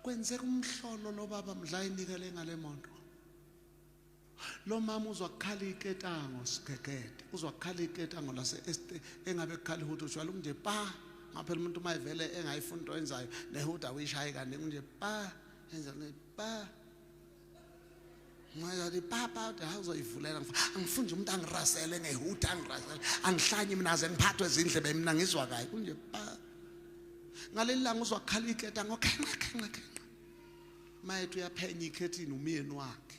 kwenzeka umhlolo lo baba mdla inikele ngale moto lo mama uzwa kukhala iketango sigegede uzwa kukhala iketango lase engabe kukhala ihuthi ujwala kunje pa ngaphela umuntu uma evele engayifuni into enzayo nehuda uyishaye kaningi kunje pa enza pa Ngathi papa awuzoyivulela angifuni nje umuntu angirasele ngehutha angirasele angihlanye mina aze ngiphathwe izindlebe mina ngizwa kayi kunje pa ngaleli langa uzwa kukhala iketa ngokhenqa khenqa khenqa mayethu uyaphenya ikhethini umyeni wakhe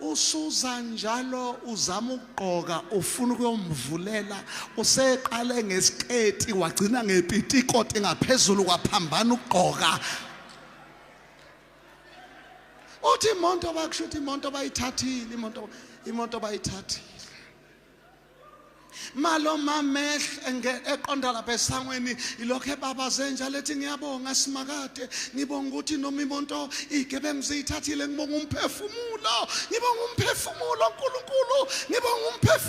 usuza njalo uzama ukugqoka ufuna ukuyomvulela useqale ngesiketi wagcina ngepitikoti ngaphezulu kwaphambana ukugqoka uthi imonto bakusho ukuthi imonto bayithathile imoto imoto bayithathile malo mamehle eqonda lapha esangweni ilokho ebabaze njalo ethi ngiyabonga simakade ngibonga ukuthi noma imonto iy'gebengu ziyithathile ngibonga umphefumulo ngibonga umphefumulo nkulunkulu ngibonga umphefumulo